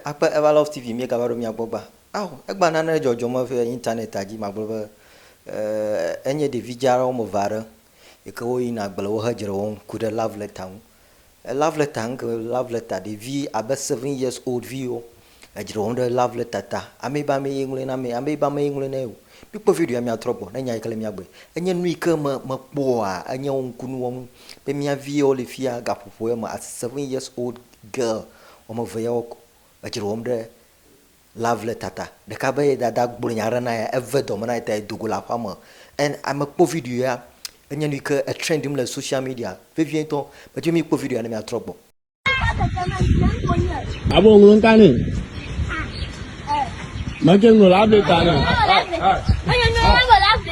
Akpe Eva Love TV míegava ɖo mia gbɔ gbã. Ao, egbã nane dzɔdzɔ me ve Internet-a dzi magblɔ be, eeh, enye ɖevi dza aɖe woame ve aɖe yi ke woyina agble wo he dzre wɔm ku ɖe love letter ŋu. Love letter ŋke love letter ɖevi abe seven years old viwo edzre wɔm ɖe love letter ta amee be amee ye ŋlɔe na amee amee be amee ye ŋlɔe na ye o mikpɔ video ya miatrɔ gbɔ ne nya yike le mia gbɔe enye nu yike me mekpɔa enye wo ŋkunu wɔnu be mia viwo le fia gaƒoƒo ya me as seven years old girl wɔmeve yawo edzre wɔm ɖe Lovely tata ɖeka be ye dada gblɔ nya ɖe na ye eve dɔme na ye ta ye do go le aƒea me and ame kpɔ video ya enye nu yi ke e trendm le social media vevie ŋutɔ. Medi be mi kpɔ video ya ne mia trɔ gbɔ. Abo ŋlɔ ŋka ne. Mɛke ŋlɔ la be ta ne.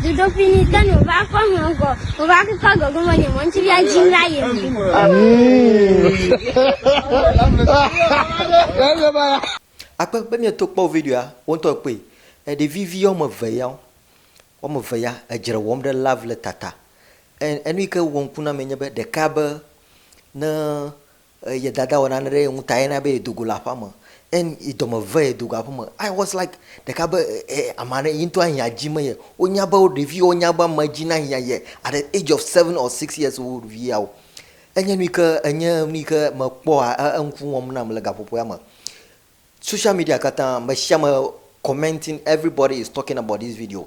Dzodoƒe ni ke no va kɔ hɔn gɔ, o va kɔ gɔ gɔ mɔ ni mɔ ŋti via jin la ye. Akpe be mieto kpɔ videoa woŋtɔ kpɔe. Ɖevi vi woame eve ya wo. Woame eve ya edzre wɔm ɖe love letter ta. Enu yi ke wɔ ŋku na amee nye be ɖeka be ne Ye dada wɔ nane ɖe ye ŋu ta ye na be ye do go le aƒea me. Eŋ, yi dɔme ve ye do go aƒeme. I was like ɖeka be e, ama ɖe yi ŋutɔ ahiã dzi me ye. Wo nya be wo ɖevi wo nya be ama dzi na hiã ye at the age of seven or six years old vi yawo. Enye nu yi ke enye nu yi ke me kpɔa e, e ŋku wɔm nam le gaƒoƒoea me. Social media katã, meshame commenting, everybody is talking about this video.